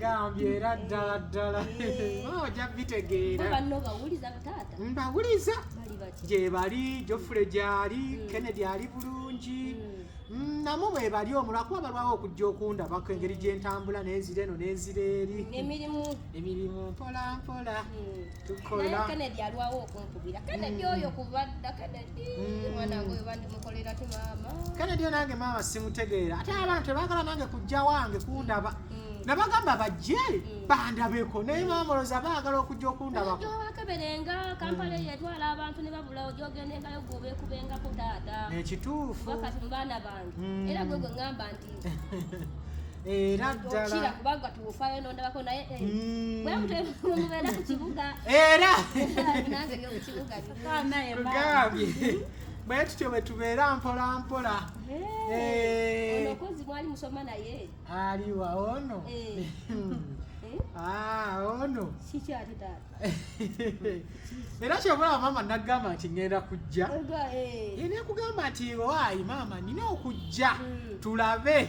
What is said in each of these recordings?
gambye era ddala ddala oja bitegeera mbawuliza gyebali jofule gyali hmm. kennedy ali bulungi hmm. Mm, namu bwebali omu lwakuba balwawo okujja okundabako engeri gyentambula nenzira eno nenzira eri emirimu emirimu mpola mpola mm. tukola kennedy alwawo okunkubira kennedy mm. oyo kubadda kennedy kale dyo nange maama simutegeera ate abaana tebagala nange kujja wange kundaba mm. nabagamba bajje mm. bandabeko naye mm. maama oloza baagala okujja okundabako okeberenga kampala eyo etwala abantu ne babula oja ogendengayo gwobekubengako taata ekituufu wakati mu baana bange era gwe gwe ŋŋamba nti era ddala kubanga tuwufayo nondabako naye eh, hmm. bwemutwemubeera ku kibuga era tugambye bwe tutyo bwe tubeera mpola mpola aliwa ono Ah, oh no. Sikyali taata. Era kyobula maama nagamba nti ngenda kujja. Oga eh. Yene kugamba nti owaayi maama nina okujja hmm. tulabe.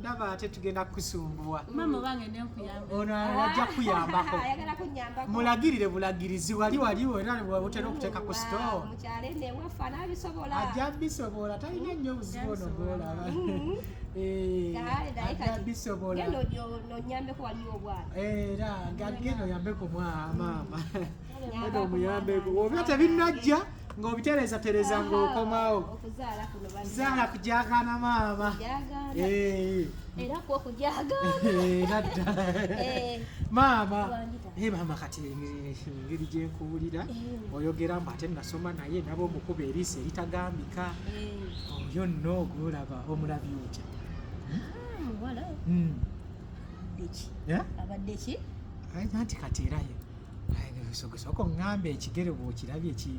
ndaba ate tugenda kukusumbuwa ono ajja kukuyambako mulagirire bulagirizi wali wali otera okuteeka ku stoajja bisobola talina nnyo obuzibu ono golaba bisobola era gagenda oyambeko mwa maama Eda omuyambeko obyo tebinnajja ng'obitereezatereeza ng'okomawo zaala kujakana maama era kwo kujagaera ddala maama naye maama kati engeri gyenkuwulira oyogera mbu ate nasoma naye naba omukuba eriiso eritagambika oyo nno ogwolaba omulabi otya abadde ki anti kati erayo soko ngamba ekigere bwokirabye ki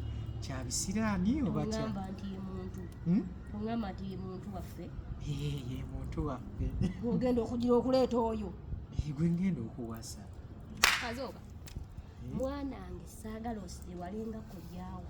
kya bisiraani obangamba nti ye muntu hmm? ongamba nti ye muntu waffe ye muntu waffe ogenda okugira okuleeta oyo gwe ngenda okuwasa kazooba mwanange saagala osire walinga kulyawo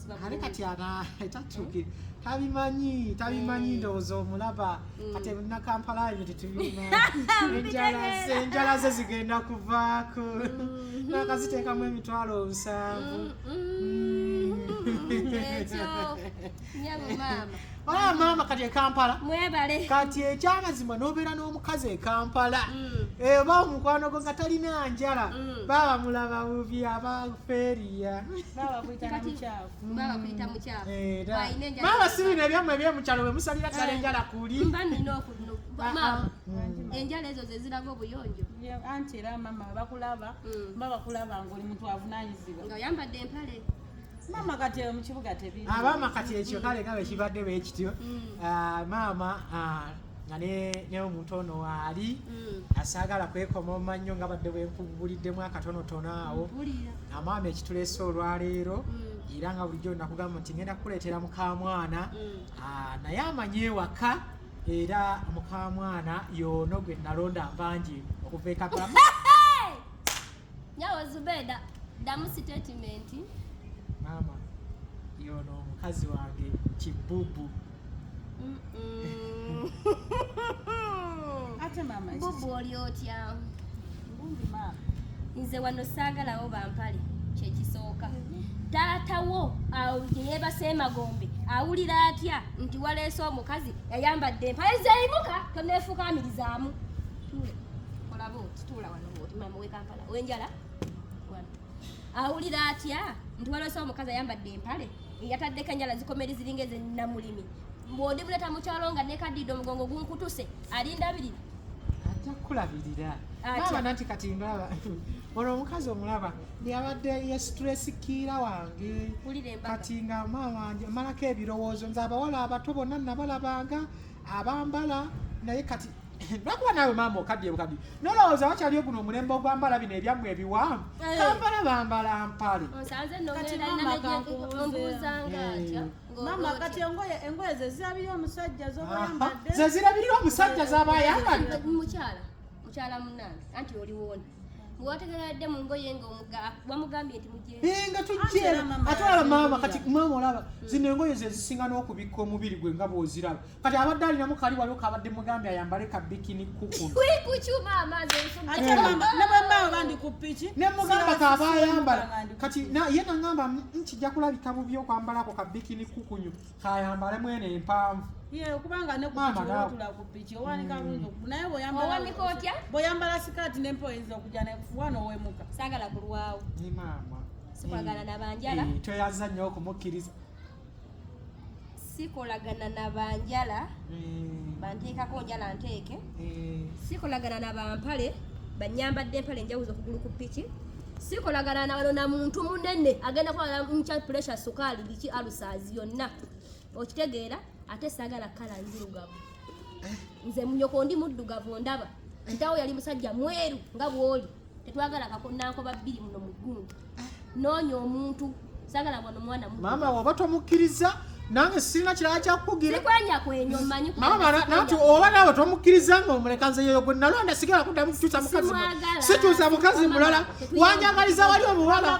naye kati ana takyuki tabimanyi tabimanyi ndowooza omulaba mm. kati ebina kampala ebyo tetubirina enjala ze zigenda kuvaako mm. nakaziteekamu emitwalo nsanvu mm, Ah, maama kati ekampala mwebale kati ekyamazima nobeera n'omukazi ekampala mm. eba eh, omukwano gwo nga talina njala mm. baba mulaba bubi abaferiya maama sibino ebyamwe ebyemukyalo bwe musalira ddala eh. enjala kuli ah, ah. mm. enjala ezo zeziraga obuyonjo anti era mama bakulaba mm. babakulaba ngaoli muntu avunanyizibwa nga oyambadde empale maama kati mu kibuga tebiri ah, maama kati ekyo kale nga bwekibadde bwe kityo mm. ah, maama ah, nga ne omuntu ono waali mm. asaagala kwekoma omannyo nga badde bwenkubuliddemu akatonotono awo amaama ekituleese olwaleero mm. era nga bulijjo nakugamba nti ngenda kukuleetera mukamwana naye amanyi ewaka era mukamwana yoono gwe nalonda mbangi okuva ekapama Nyawo Zubeda damu statement. Mama yono omukazi wange kibubu. Mm -mm. Ate mama. Bubu oli otya? Bubu mama. Nze wano saagalawo bampale kyekisooka. Taata wo awo gye yeebase emagombe awulira atya nti waleese omukazi yayambadde empale zeeyimuka toneefukaamirizaamu. Tule. Olaba otituula awulira atya nti walose omukazi ayambadde empale eyataddeko enjala zikomeri ziringa ezenamulimi bwodi muleta mukyalo nga nekaddiidde omugongo gunkutuse alinda biri ajja kukulabirira naaba nanti kati ndaba olwo omukazi omulaba yabadde yesitulesikkiira wange kati nga maama wange amalako ebirowoozo nze abawala abato bonna nabalabanga abambala naye kati lwakuba naawe maama okaddiye bukaddi nolowooza wakyaliyo guno omulembe ogwambala bino ebyammwe ebiwanvu eh. kampala bambala mpale mama kati engoye engoye zezirabirira omusajja zobayambadde zezirabirira omusajja zabayambadde mukyala mukyala munange anti oliwona bwategeradde mu ngoye nga wamugambye nti mugyenga tujjera ate olaba maama kati maama olaba zino engoye zezisinga n'okubikka omubiri gwe nga bwoziraba kati abadde alina mukali waliwo kabadde mugambi ayambale ka bikini kukunabwembaawo bandi ku piki nemugamba kaba ayambala kati ye nangamba nkijja kulabika bubi okwambalako ka bikini kukunyu kayambale mwene empanvu kubanga nekutula ku piki owanika bulungi mm. naye bwoyambala sikaati nempa oyinza okuja nekufuwa nowemuka sagala kulwawo maama sikwagala eh, nabanjala eh, tweyaza nnyo okumukkiriza sikolagana na banjala mm. banteekako njala nteeke mm. sikolagana na bampale banyambadde empale enjawuzo okugulu ku piki sikolagana nawano na muntu munene agenda kuwala mukya pressure sukaali biki alusaazi yonna okitegeera ate saagala kala nzirugavu eh. nze munyoko ndi muddugavu ndaba ntawo yali musajja mweru nga bwoli Tetwagala kakonankoba bbiri muno mu gundu. Ah. Noonya omuntu sagala bwano mwana mu. Maama waba tomukkiriza nange sirina kirala kyakukugira nati oba naawe tomukkiriza nga omuleka nze yeyo gwe nalonda sigala kuddamu kukyusa mukazi sikyusa mukazi mulala wanjagaliza wali omuwala